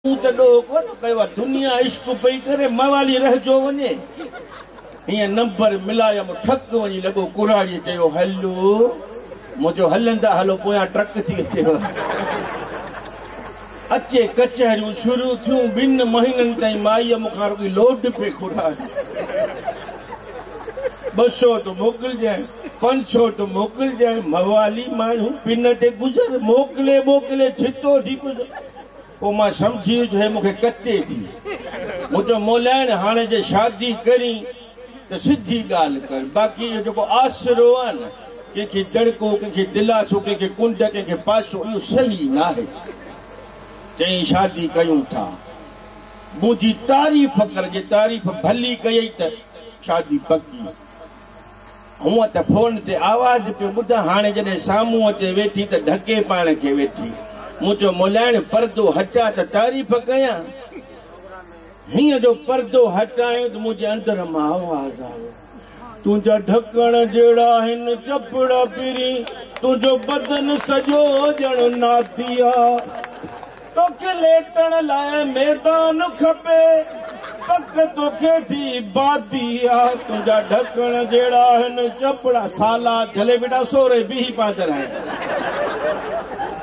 مون ته ڏوهه ڪونه ڪيو آ. دنيا عشق پئي ڪري موالي رهجو وڃي هينئن نمبر ملايم ٺڪ وڃي لڳو ڪراڙيء چيو هلو مون چيو هلندا هلو پويان ٽرڪ ٿي اچيو اچي ڪچهريون شروع ٿيون ٻن مهينن تائين مائيء مون کان رڳي لوڊ پئي گهرائي ٻه سو ته موڪلجانء پنج سو ته موڪلجانء موالي ماڻهو پن تي گذر موڪلي موڪلي ڇتو ٿي پيو پوء مان سمجهي ويس جو هي مون کي ڪتي ٿي. مون چيو مولائڻ هاڻي جي شادي ڪرين ته سڌي ڳالهه ڪر باقي اهو جيڪو آسرو آهي نه ڪنهن کي دڙڪو ڪنهن کي دلاسو ڪنهن کي ڪنڊ ڪنهن کي پاسو اهو صحيح ناهي. چيائين شادي ڪيون ٿا منهنجي تعريف ڪر جي تعريف ڀلي ڪيئي ته شادي پڪي. هونء ته فون تي آواز پيو ٻڌان، هاڻي جڏهن سامهون اچي ويٺي ته ڍڪي پاڻ کي ويٺي. مون چيو، مولائڻ پردو هٽاء ته تعريف ڪيان. هينئن جو پردو هٽايو ته منهنجي اندر مان آواز آيو، تنهنجا ڍڪڻ جهڙا هن چپڙا پرين، تنهنجو بدن سڄو ڄڻ ناديا. توکي ليٽڻ لاء ميدان کپي پڪ توکي جي بادي آ تنهنجا ڍڪڻ جهڙا آهن چپڙا سالا جهلي بيٺا سوري بيهي پيا چرائين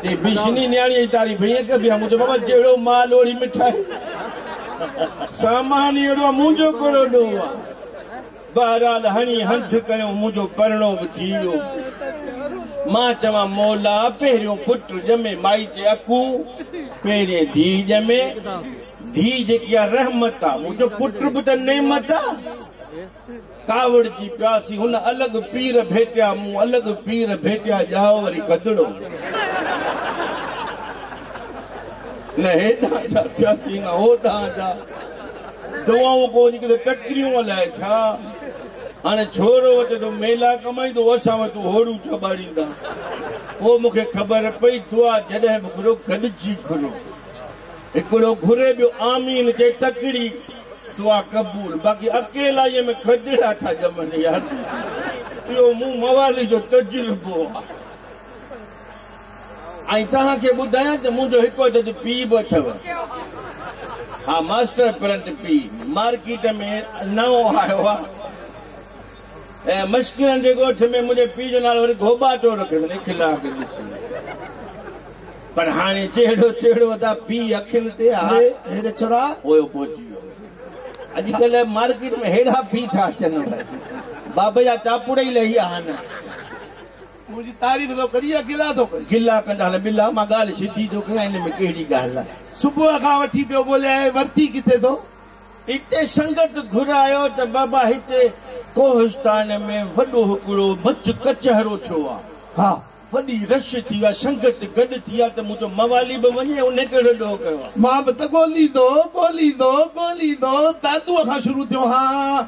چي بشني نياڻي جي تعريف ائين ڪبي آ مون چيو بابا جهڙو مال اوڙي مٺائي سامان اهڙو آ منهنجو ڪهڙو ڏوهه آ. بهرحال هڻي هنڌ ڪيو، منهنجو پرڻو به ٿي ويو. مان چوان مولا پهريون پٽ ڄمي مائي جي اڪو پهرين ڌيء ڄمي. ڌيء جيڪي آ رحمت آ. مون چيو پٽ به ته نعمت آ. ڪاوڙجي پياسي. هن الڳ پير ڀيٽيا مون الڳ پير ڀيٽيا ڄائو وري گدڙو. نه هيڏانهن جا ٿياسي نه هوڏانهن جا. دعائون ڪو اڄ ڪلهه ٽڪريون الائي ڇا. هاڻي ڇورو اچي ٿو ميلا ڪمائيندو اسان وٽ هوڙون چٻاڙيندا. پوء مون کي خبر پئي دعا جڏهن به گهرو گڏجي گهرو. هڪڙو گهري ٻيو آمين چئي تڪڙي دعا قبول باقي اڪيلائيء ۾ کجڙا ٿا ڄمن يار. اهو مون موالي جو تجربو آ. ۽ توهان کي ٻڌايان ته منهنجو هڪ عدد پي به اٿو. ها ماسٽر پرنٽ پي مارڪيٽ ۾ نئون آيو آ. ۽ مشڪرن جي ڳوٺ ۾ منهنجي پي جو نالو وري گهوٻاٽو رکيو اٿن اخلاق ڏسي. پر هاڻي جهڙو تهڙو ادا پي اکين تي آ. هيڏي ڇورا. پويو پهچي ويو. اڄ ڪلهه مارڪيٽ ۾ هيڙا پي ٿا اچن. بابا جا چاپڙا ئي لهي آ هن. منهنجي تعريف ٿو ڪرين يا گلا ٿو ڪرين؟ گلا ڪندا نه ٻلا، مان ڳالهه سڌي ٿو ڪيان، ان ۾ ڪهڙي ڳالهه آهي؟ صبح کان وٺي پيو ڳوليائين، ورتي ڪٿي ٿو؟ هتي سنگت گهرايو ته بابا هتي ڪوهستان ۾ وڏو هڪڙو مچ ڪچهرو ٿيو آ. ها، وڏي رش ٿي آ، سنگت گڏ ٿي آ ته مون چيو موالي به وڃي، انهي ڪهڙو ڏوهه ڪيو آ؟ مان به ته ڳوليندو، ڳوليندو، ڳوليندو دادوء کان شروع ٿيو هان.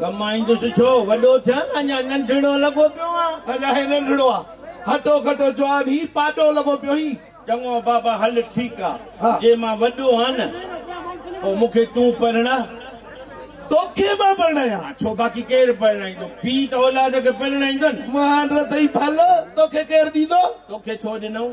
ڪمائيندس ڇو؟ وڏو ٿيان اڃا ننڍڙو لڳو پيو آهيان. اڃا هي ننڍڙو آ. هٽو کٽو جواب هي پاڏو لڳو پيو هين. چڱو بابا هل ٺيڪ آ. جي مان وڏو آهيان نه پو مون کي تون پرڻاء. توکي مان پرڻايان. ڇو باقي ڪير پرڻائيندو؟ پيء ته اولاد کي پرڻائيندو نه. مهانڊ رڌئي ڀل توکي ڪير ڏيندو. توکي ڇو ڏنائون؟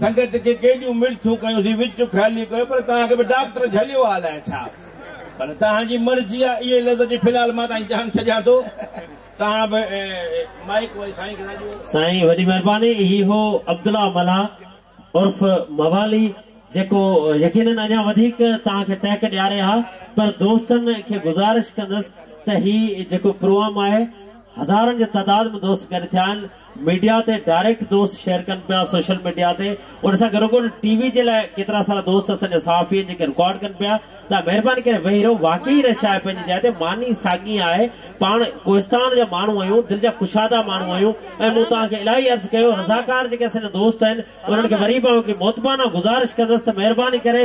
سنگت کي ڪيڏيون مڙٿون ڪيونسين، وچ خالي ڪيو، پر توهان کي به ڊاڪٽر جهليو آهي الائي ڇا؟ پر توهان جي مرضي آهي اهي لفظ اچي في الحال مان تهانجي جان ڇڏيان ٿو. توهان به مائيڪ وري سائين کي ٿا ڏيو. سائين وڏي مهرباني هي هو عبدالله ملاح عرف موالي جيڪو يقينن اڃا وڌيڪ توهان کي ٽهڪ ڏياري ها پر دوستن کي گذارش ڪندس ته هي جيڪو پروام آهي هزارن جي تعداد ۾ دوست گڏ ٿيا آهن ميڊيا تي ڊائريڪٽ دوست شيئر ڪن پيا سوشل ميڊيا تي ان سان گڏو گڏ ٽي وي جي لاء ڪيترا سارا دوست اسان جا صحافي آهن جيڪي رڪارڊ ڪن پيا ته مهرباني ڪري ويهي رهو واقعي هيء شاعر پنهنجي جاء تي معني ساڳي آهي پاڻ ڪوهستان جا ماڻهو آهيون دل جا ڪشادا ماڻهو آهيون ۽ مون توهان کي الاهي عرض ڪيو رضاڪار جيڪي اسان جا دوست آهن انهن کي وري به آئون هڪڙي مؤدبانه گذارش ڪندس ته مهرباني ڪري